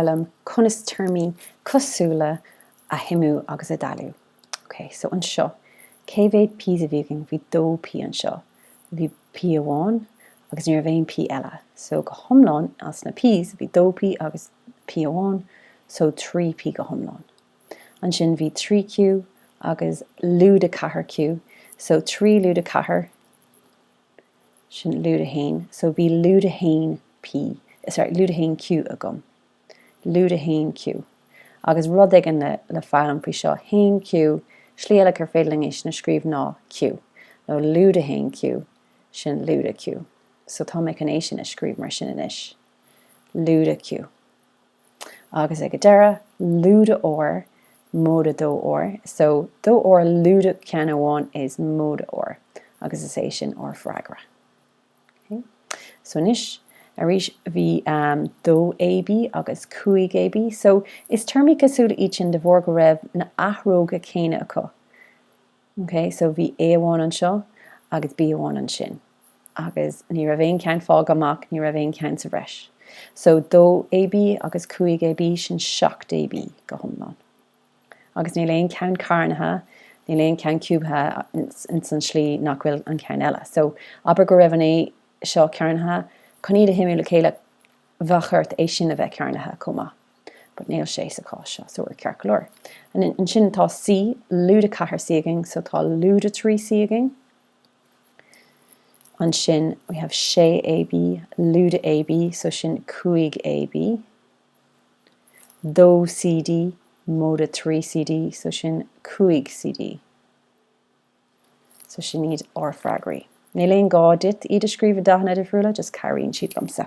liom conas téarmaí cosúla a shuimiú agus a dhealú. Ok, so anseo, cé mhéad p's a bhí againn? Bhí dó P anseo. Bhí P amháin agus ní raibh aon P eile. So go hiomlán, as na p's, bhí dó P agus P amháin, so trí P go hiomlán. Ansin bhí trí Q agus lúide ceathair Q, so trí lúide ceathair, Sin lúide a haon. So bhí lúide a haon P, sorry, lúide a haon Q agam. Lúide a haon Q. Agus rud éigin le, le foghlaim faoi seo, haon Q, slí eile gur féidir linn é sin a scríobh ná Q. Nó lúide a haon Q, sin lúide Q. So tá mé chun é sin a scríobh mar sin anois. Lúide Q. Agus ag an deireadh, lúide R, móide dó R, so, dó R lúide ceann amháin is móide R, agus is é sin ár freagra. Okay? So anois, arís, bhí um, 2 AB agus 5 AB, so, is téarmaí cosúla iad sin de bharr go raibh na athróga céanna acu. OK, so bhí A amháin anseo agus B amháin ansin. Agus ní raibh aon cheann fágtha amach, ní raibh aon cheann sa bhreis. So dó AB agus cúig AB, sin seacht AB go hiomlán. Agus níl aon cheann cearnaithe, níl aon cheann ciúbaithe ins an slí nach bhfuil an ceann eile. So abair go raibh an A seo cearnaithe, chun iad a shuimiú le chéile, bheadh ort é sin a bheith cearnaithe chomh maith but níl sé sa chás seo so we're ceart go leor. And then ansin tá C, lúide 4 C againn so tá lúide 3 C againn. Ansin we have 6 AB, lúide AB so sin 5 AB. 2 CD, móide 3 CD so sin 5 CD. So sin iad ár freagraí. Níl aon gá duit iad a scríobh i dathanna difriúla, just cabhraíonn siad liomsa.